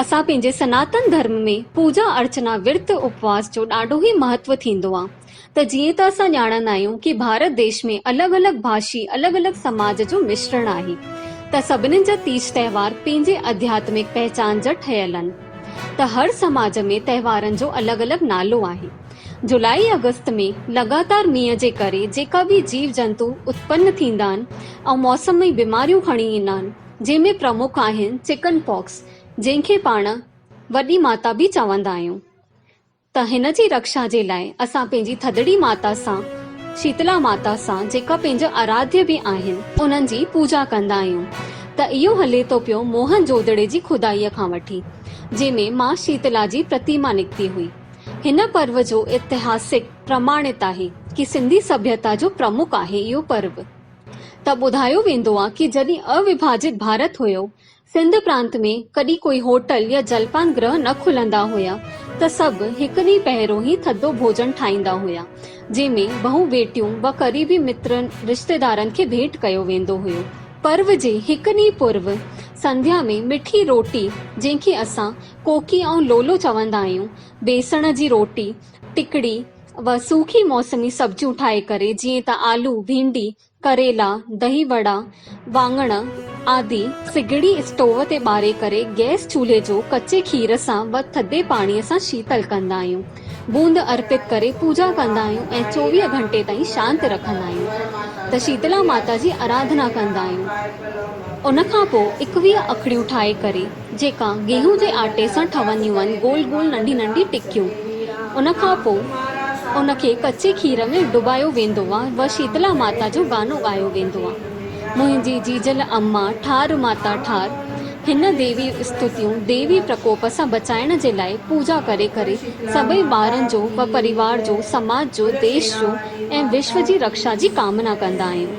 اسان پنهنجي سناتن ڌرم ۾ پوجا ارچنا ورت اپواس جو ڏاڍو ئي مهتو ٿيندو آ ته جيئن ته اسان ڄاڻندا آهيون ڪي ڀارت ديش ۾ الڳ الڳ ڀاشي الڳ الڳ سماج جو مشرڻ آهي ته سڀنين جا تيج تهوار پنهنجي اڌياتمڪ پهچان جا ٺهيل ان ته هر سماج ۾ تهوارن جو الڳ الڳ نالو آهي جولائي آگست ۾ لڳاتار مينهن جي ڪري جيڪا به جيو جنتو اتپن ٿيندا ان ۽ موسمي بيماريون کڻي ايندا ان جنهن ۾ پرمک آهن چڪن پاڪس جنهن کي پاڻ وڏي ماتا به چوندا آهيون ته هن جي رڪشا جي لاء اسان پنهنجي ٿڌڙي ماتا سان شيتلا ماتا سان جيڪا پنهنجا آراڌيا به آهن انهن جي پوڄا ڪندا آهيون ته اهو هلي ٿو پيو موهن جوڌڙي جي خدائي کان وٺي جنهن ۾ ماء شيتلا جي پرتيما نڪتي هئي هن پرو جو اتهاسڪ پرماڻت آهي ڪي سنڌي سڀيتا جو پرمک آهي اهو پرو. ته ٻڌايو ويندو آ ڪي جڏهن اوڀاجت ڀارت هيو، سنڌ پرانت ۾ ڪڏهن ڪوئي هوٽل يا جلپان گرهه نه کلندا هيا ته سڀ هڪ ڏينهن پهريون هي ٿڌو ڀوڄن ٺاهيندا هيا، جنهن ۾ بهون بيٽيون و قريبي مترن رشتيدارن کي ڀيٽ ڪيو ويندو هيو. پرو جي هڪ ڏينهن پورو سنڌيا ۾ مٺي روٽي جنهن کي اسان ڪوڪي ۽ لولو چوندا آهيون، بيسڻ جي روٽي، ٽکڙي و سوکي موسمي سبزيون ٺاهي ڪري جيئن ته آلو، ڀينڊي، ڪريلا، دهي وڙا، واڱڻ آدي سگهڙي اسٽوو تي ٻاري ڪري گئس چولهي جو ڪچي کير سان و ٿڌي پاڻي سان شيتل ڪندا آهيون. بوند ارپت ڪري پوڄا ڪندا آهيون ۽ چوويهه گهنٽي تائين شانت رکندا آهيون ته شيتلا ماتا جي اراڌنا ڪندا آهيون. ان کان پوء ايڪويهه اکڙيون ٺاهي ڪري. جيڪا گيهون جي آٽي سان ٺهنديون آهن گول گول ننڍي ننڍي ٽڪيون ان کان پوء ان کي ڪچي کير ۾ ڊبايو ويندو آهي و شيتلا ماتا جو گانو ڳايو ويندو آهي منهنجي جيجل اما ٺار ماتا ٺار هن ديوي استوتيون ديوي پرڪوپ سان بچائڻ جي لاء پوڄا ڪري ڪري سڀئي ٻارن جو و پريوار جو سماج جو ديش جو ۽ وشو جي رڪشا جي ڪامنا ڪندا آهيون.